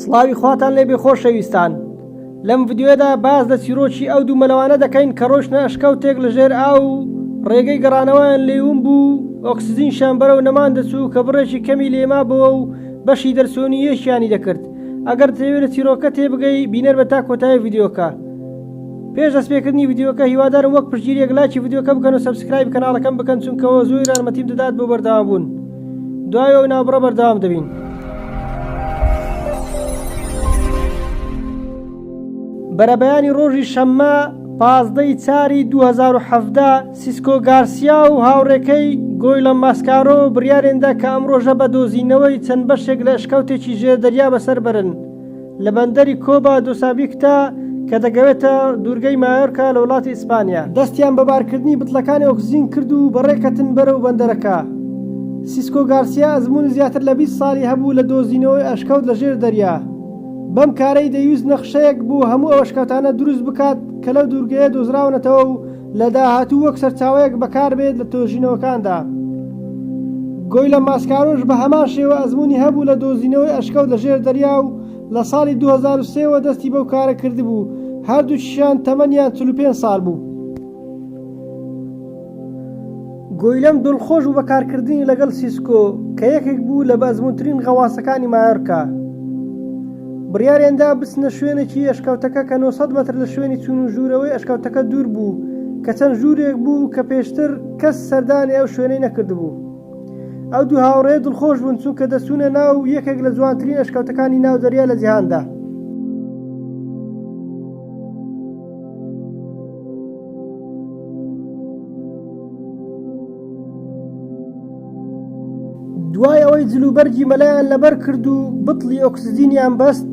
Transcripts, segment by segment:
سڵاوی خواتان لێبێ خۆشەویستان، لەم ڤیدیۆیەدا باس لە چیرۆکی ئەو دوو مەلەوانە دەکەین کە ڕۆیشتنە ئەشکەوتێک لە ژێر ئاو و ڕێگەی گەڕانەوەیان لێی ون بوو و ئۆکسجینشیان بەرەو نەمان دەچوو کە بڕێکی کەمی لێ مابۆوە و بەشی دەرچۆنییەکیانی دەکرد ئەگەر دەتەوێ لە چیرۆکە تێبگەی بینەر بە تا کۆتایی ڤیدیۆکە پێش دەست پێکردنی ڤیدیۆکە هیوادارم وەک پشتگیریەک لایکی ڤیدیۆکە بکەن و سەبسکرایبی کەناڵەکەم بکەن چونکەوە زۆی رارمەتیم دەدات بۆ بەردەوام بوون. دوای ئەو نابڕە بەردەوام دەبین. بەرەبەیانی ڕۆژی شەممە پازدەی چاری 2017 سیسکۆ گارسیا و هاوڕێکەی گۆی لە ماسکارۆ بڕیارێندا کە ئەم ڕۆژە بە دۆزینەوەی چەند بەشێک لە ئەشکەوتێکی ژێر دەریا بەسەر بەرن. لە بەندەری کۆبا دو سابیکتا کە دەگەوێتە دوورگەی مایۆرکا لە وڵاتی ئیسپانیا. دەستیان بە بارکردنی بتڵەکانی ئۆکسجین کرد و بەڕێکەتن بەرەو بەندەرەکە. سیسکۆ گارسیا ئەزموونی زیاتر لە بیست ساڵی هەبوو لە دۆزینەوەی ئەشکەوت لە ژێر دەریا. بەم کارەی دەیویست نەخشەیەک بۆ هەموو ئەو ئەشکەوتانە دروست بکات کە لەو دوورگەیە دۆزراونەتەوە و لە داهاتوو وەک سەرچاوەیەک بەکاربێت لە تۆژینەوەکاندا. گۆیلە ماسکارۆش بە هەمان شێوە ئەزموونی هەبوو لە دۆزینەوەی ئەشکەوت لە ژێر دەریا و لە ساڵی دوو هەزار و سێ وە دەستی بەو کارە کردبوو، هەردووکیشیان تەمەنیان چل و پێنج ساڵ بوو. گویلەم دڵخۆش بوو بە کارکردنی لەگەڵ سیسکۆ کە یەکێک بوو لە بەئەزموونترین غەواسەکانی مایۆرکا. بڕیاریان دا بچنە شوێنێکی ئەشکەوتەکە کە نۆ سەد مەتر لە شوێنی چوون و ژوورەوەی ئەشکەوتەکە دوور بوو کە چەند ژوورێک بوو کە پێشتر کەس سەردانی ئەو شوێنەی نەکردبوو. ئەو دوو هاوڕێیە دڵخۆش بوون چونکە دەچوونە ناو یەکێک لە جوانترین ئەشکەوتەکانی ناو دەریا لە جیهاندا. دوای ئەوەی جلوبەرگی مەلایان لەبەر کرد و بتڵی ئۆکسزینیان بەست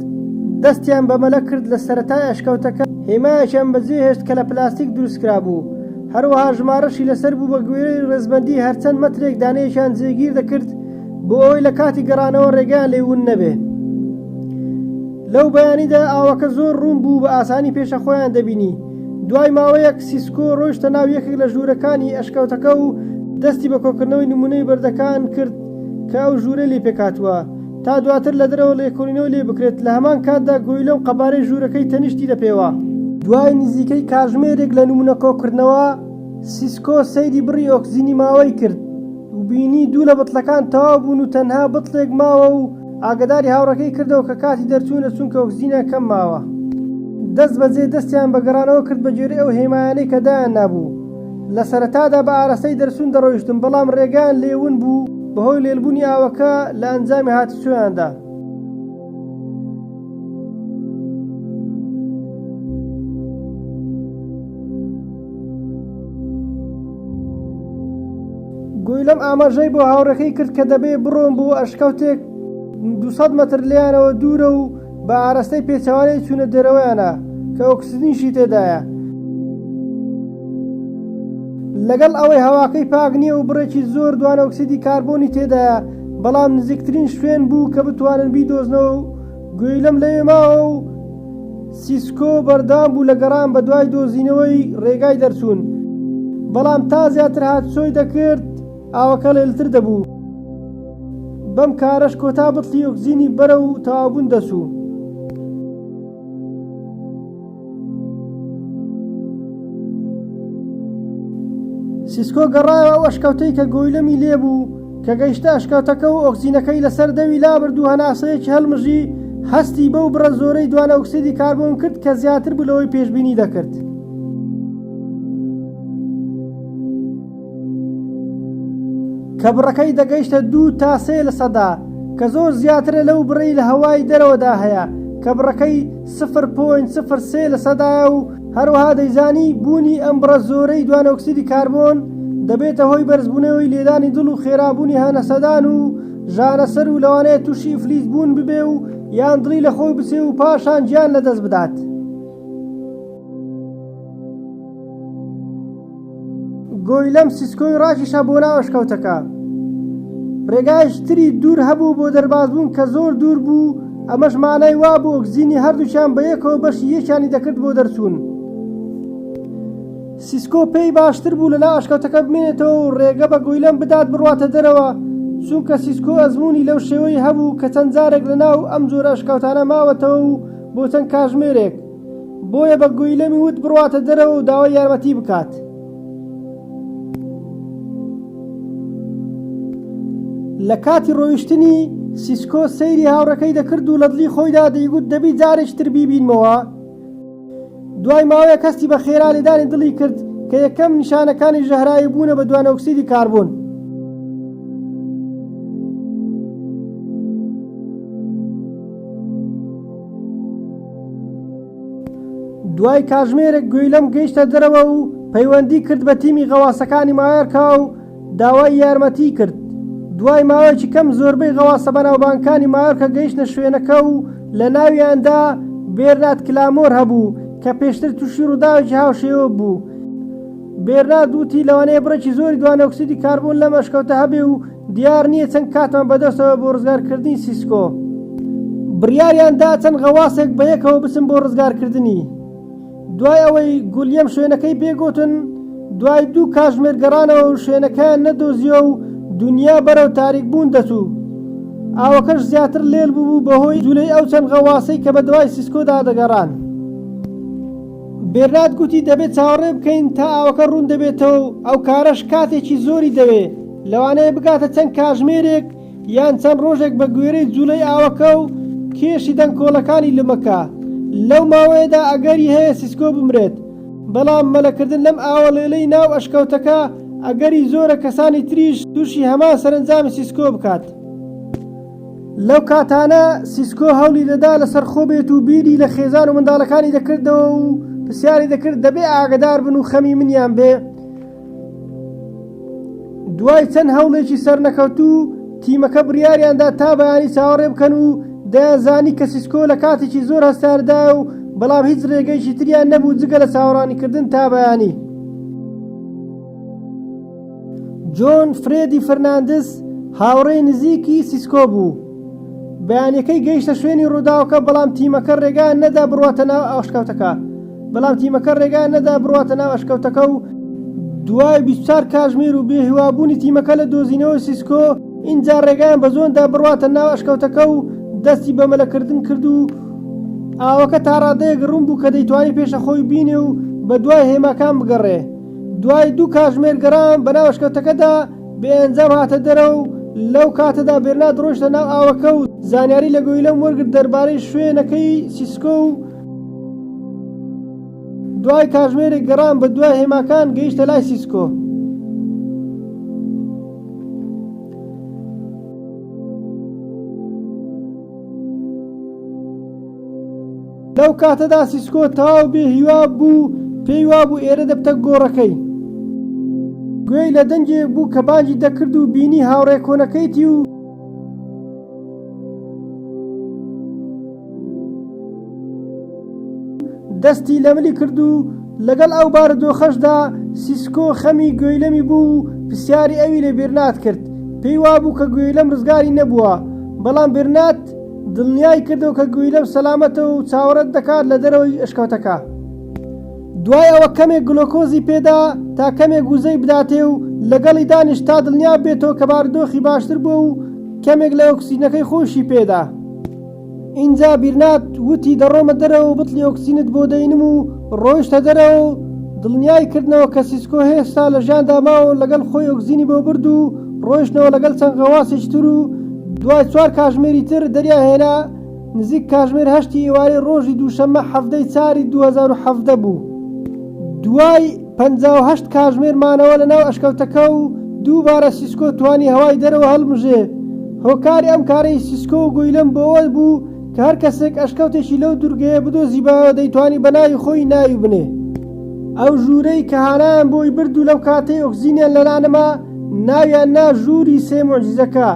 دەستیان بە مەلە کرد لە سەرەتای ئەشکەوتەکە هێمایەکیان بەجێ هێشت کە لە پلاستیک دروستکرا بوو هەروەها ژمارەشی لەسەر بوو بە گوێرەی ڕێزبەندی هەرچەند مەترێک دانەیەکیان جێگیر دەکرد بۆ ئەوەی لە کاتی گەڕانەوە ڕێگەیان لێ ون نەبێ. لەو بەیانیدا ئاوەکە زۆر ڕوون بوو بە ئاسانی پێشە خۆیان دەبینی. دوای ماوەیەک سیسکۆ ڕۆیشتە ناو یەکێک لە ژوورەکانی ئەشکەوتەکە و دەستی بە کۆکردنەوەی نموونەی بەردەکان کرد کە ئەو ژوورەی لێ پێکهاتووە تا دواتر لە دەرەوە لێکۆڵینەوە لێ بکرێت لە هەمان کاتدا گۆیلە و قەبارەی ژوورەکەی تەنیشتی لە پێوە. دوای نزیکەی کاژمێرێک لە نموونە کۆکردنەوە سیسکۆ سەیری بڕی ئۆکسجینی ماوەی کرد. و بینی دوو لە بتڵەکان تەواو بوون و تەنها بتڵێک ماوە و ئاگەداری هاوڕێکەی کردەوە کە کاتی دەرچوونە چونکە ئۆکسجینیان کەم ماوە. دەست بەجێ دەستیان بە گەڕانەوە کرد بە گوێرەی ئەو هێمایانەی کە دایان نابوو. لە سەرەتادا بە ئاراستەی دەرچوون دەڕۆیشتن بەڵام ڕێگایان لێ ون بوو بەهۆی لێلبوونی ئاوەکە لە ئەنجامی هاتوچۆیاندا. گویلەم ئاماژەی بۆ هاوڕێکەی کرد کە دەبێ بڕۆن بۆ ئەشکەوتێک 200 مەتر لێیانەوە دوورە و بە ئارەستەی پێچەوانەی چوونە دەرەوەیانە کە ئۆکسجینیشی تێدایە. لەگەڵ ئەوەی هەواکەی پاک نییە و بڕێکی زۆر دوانەئۆکسیدی کاربۆنی تێدایە، بەڵام نزیکترین شوێن بوو کە بتوانن بیدۆزنەوە و گوێی لەم لەوێ ماوە و سیسکۆ بەردەوام بوو لە گەڕان بە دوای دۆزینەوەی ڕێگای دەرچوون، بەڵام تا زیاتر هاتوچۆی دەکرد ئاوەکە ڵێلتر دەبوو، بەم کارەش کۆتا بتڵی ئۆکسجینی بەرەو تەواوبوون دەچوو. سیسکۆ گەڕایەوە ئەو ئەشکەوتەی کە گۆیلەمی لێبوو کە گەیشتە ئەشکەوتەکە و ئۆکسینەکەی لەسەر دەوی لابرد و هەناسەیەکی هەلمژی هەستی بەو بڕە زۆرەی دوانە ئۆکسیدی کاربۆن کرد کە زیاتر بوو لەوەی پێشببینی دەکرد. کە بڕەکەی دەگەیشتە دوو تا سێ لە سەدا کە زۆر زیاترە لەو بڕەی لە هەوای دەرەوەدا هەیە کە بڕەکەی 0.03 لە سەدایە و هەروەها دەیزانی بوونی ئەم بڕە زۆرەی دوانەئۆکسیدی کاربۆن دەبێتە هۆی بەرزبوونەوەی لێدانی دڵ و خێرابوونی هەناسەدان و ژانەسەر و لەوانەیە تووشی ئیفلیج بوون ببێ و یان دڵی لە خۆی بچێ و پاشان گیان لەدەست بدات. گۆی لەم سیسکۆی ڕاکیشا بۆ ناو ئەشکەوتەکە. ڕێگایش تری دوور هەبوو بۆ دەربازبوون کە زۆر دوور بوو، ئەمەش مانای وابوو ئۆکزینی هەردووکیان بە یەکەوە بەشی یەکیانی دەکرد بۆ دەرچوون. سیسکۆ پێی باشتر بوو لە ناو ئەشکەوتەکە بمێنێتەوە و ڕێگە بە گۆیلەم بدات بڕواتە دەرەوە، چونکە سیسکۆ ئەزموونی لەو شێوەی هەبوو کە چەند جارێک لە ناو ئەم جۆرە ئەشکەوتانە ماوەتەوە و بۆ چەند کاژمێرێک. بۆیە بە گویلەمی وت بڕواتە دەرەوە و داوای یارمەتی بکات. لە کاتی ڕۆیشتنی سیسکۆ سەیری هاوڕەکەی دەکرد و لە دڵی خۆیدا دەیگوت دەبی جارێکی تر بیبینمەوە دوای ماوەیە کەستی بە خێرا لێدانی دڵی کرد کە یەکەم نیشانەکانی ژەهراوی بوونە بە دوانۆکسیدی کاربوون. دوای کاژمێرێک گوێی لەم گەیشتە دەرەوە و پەیوەندی کرد بە تیمی غەواسەکانی مایۆرکا و داوای یارمەتی کرد. دوای ماوەیەکی کەم زۆربەی غەواسە بەناوبانگکانی مایۆرکە گەیشتە شوێنەکە و لە ناویاندا بێرنات کلامۆر هەبوو کە پێشتر تووشی ڕووداوێکی هاوشێوە بوو. بێرنارد وتی لەوانەیە بڕێکی زۆری دوانەئۆکسیدی کاربۆن لەم ئەشکەوتە هەبێ و دیار نییە چەند کاتمان بەدەستەوە بۆ ڕزگارکردنی سیسکۆ. بڕیاریان دا چەند غەواسێک بە یەکەوە بچن بۆ ڕزگارکردنی. دوای ئەوەی گولیەم شوێنەکەی پێ گوتن، دوای دوو کاتژمێر گەڕانەوە و شوێنەکەیان نەدۆزییەوە و دونیا بەرەو تاریکبوون دەچوو. ئاوەکەش زیاتر لێل ببوو بەهۆی جولەی ئەو چەند غەواسەی کە بە دوای سیسکۆدا دەگەڕان. بێرنارد گوتی دەبێت چاوەڕێ بکەین تا ئاوەکە ڕوون دەبێتەوە و ئەو کارەش کاتێکی زۆری دەوێت، لەوانەیە بگاتە چەند کاژمێرێک یان چەند ڕۆژێک بەگوێرەی جووڵەی ئاوەکە و کێشی دەنکۆڵەکانی لومەکە. لەو ماوەیەدا ئەگەری هەیە سیسکۆ بمرێت، بەڵام مەلەکردن لەم ئاوە ڵێڵەی ناو ئەشکەوتەکە ئەگەری زۆرە کەسانی تریش تووشی هەمان سەرەنجامی سیسکۆ بکات. لەو کاتانە سیسکۆ هەوڵی دەدا لەسەر خۆ بێت و بیری لە خێزان و منداڵەکانی دەکردەوە و پرسیاری دەکرد دەبێ ئاگدار بن و خەمی منیان بێ دوای چەند هەوڵێکی سەرنەکەوتوو تیمەکە بڕیاریاندا تا بەیانی چاوەڕێ بکەن و دەیانزانی کە سیسکۆ لە کاتێکی زۆر هەستاردا و بەڵام هیچ ڕێگەیشی تریان نەبوو جگە لە چاوەڕانیکردن تا بەیانی. جۆن فرێدی فرناندز هاوڕێی نزیکی سیسکۆ بوو، بەیانییەکەی گەیشتە شوێنی ڕووداوەکە بەڵام تیمەکە ڕێگایان نەدا بڕواتە ناو ئەشکەوتەکە بەڵام تیمەکە ڕێگایان نەدا بڕواتە ناو ئەشکەوتەکە و دوای 24 کاژمێر و بێهیوابوونی تیمەکە لە دۆزینەوەی سیسکۆ ئینجا ڕێگایان بە جۆن دا بڕواتە ناو ئەشکەوتەکە و دەستی بە مەلەکردن کرد و ئاوەکە تاڕادەیەک ڕوون بوو کە دەیتوانی پێشەخۆی بینێ و بەدوای هێماکان بگەڕێ دوای دوو کاتژمێر گەڕان بە ناو ئەشکەوتەکەدا بێ ئەنجام هاتە دەرەوە و لەو کاتەدا بێرنارد ڕۆیشتە ناو ئاوەکە و زانیاری لە گۆیلەم وەرگرت دەربارەی شوێنەکەی سیسکۆ و دوای کاتژمێرێک گەڕان بە دوای هێماکان گەیشتە لای سیسکۆ. لەو کاتەدا سیسکۆ تەواو بێ هیوا بوو، پێی وابوو ئێرە دەبتە گۆڕەکەی. گوێی لە دەنگێک بوو کە بانگی دەکرد و بینی هاوڕێ کۆنەکەیتی و. دەستی لە ملی کرد و لەگەڵ ئەو بارودۆخەشدا سیسکۆ خەمی گوێیلەمی بوو و پرسیاری ئەوی لە بێرنات کرد، پێی وابوو کە گوێیلەم ڕزگاری نەبووە، بەڵام بێرنات. دڵنیای کردەوە کە گویلەم سەلامەتە و چاوەڕێت دەکات لە دەرەوەی ئەشکەوتەکە. دوای ئەوە کەمێک گلۆکۆزی پێدا تا کەمێک وزەی بداتێ و لەگەڵی دانیشت تا دڵنیا ببێتەوە کە بارودۆخی باشتر بووە و کەمێک لە ئۆکسجینەکەی خۆیشی پێدا. ئینجا بیرنات وتی دەڕۆمە دەرەوە و بتڵی ئۆکسجینت بۆ دەینم و ڕۆیشتە دەرەوە و دڵنیای کردنەوە کە سیسکۆ هێشتا لە ژیاندا ماوە و لەگەڵ خۆی ئۆکزینی بۆ برد و ڕۆیشتنەوە لەگەڵ چەند غەواسێکی تر و دوای چوار کاژمێری تر دەریان هێنا نزیک کاژمێر هەشتی ئیوارەی ڕۆژی دووشەممە حەڤدەی چاری دوو هەزار و حەڤدە بوو دوای پەنجا و هەشت کاژمێر مانەوە لەناو ئەشکەوتەکە و دووبارە سیسکۆ توانی هەوای دەرەوە هەڵمژێ هۆکاری ئەم کارەی سیسکۆ و گویلم بۆ ئەوە بوو کە هەر کەسێک ئەشکەوتێکی لەو دوورگەیە بدۆزیبایەوە دەیتوانی بە ناوی خۆی ناوی بنێ. ئەو ژوورەی کە هانایان بۆی برد و لەو کاتەی ئۆکسجینیان لەلا نەما ناویان نا ژووری سێ موعجیزەکە.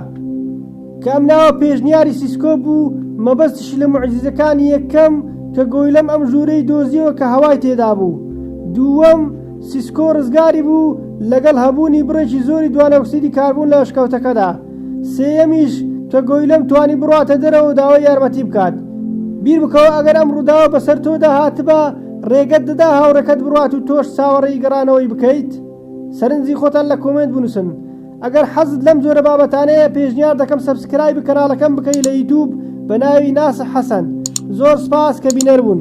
کە ئەم ناوە پێشنیاری سیسکۆ بوو، مەبەستیشی لە موعجیزەکانی یەکەم کە گۆیلەم ئەم ژوورەی دۆزیەوە کە هەوای تێدا بوو. دووەم، سیسکۆ ڕزگاری بوو لەگەڵ هەبوونی بڕێکی زۆری دوانەئۆکسیدی کاربۆن لە ئەشکەوتەکەدا. سێیەمیش کە گۆیلەم توانی بڕواتە دەرەوەو داوای یارمەتی بکات. بیر بکەوە ئەگەر ئەم ڕووداوە بەسەر تۆدا هاتبا ڕێگەت دەدا هاوڕێکەت بڕوات و تۆش چاوەڕێی گەڕانەوەی بکەیت؟ سەرنجی خۆتان لە کۆمێنت بنووسن. ئەگەر حەزت لەم جۆرە بابەتانەیە پێشنیار دەکەم سەبسکرایبی کەناڵەکەم بکەی لە یوتوب بە ناوی ناسح حەسەن. زۆر سپاس کە بینەر بوون.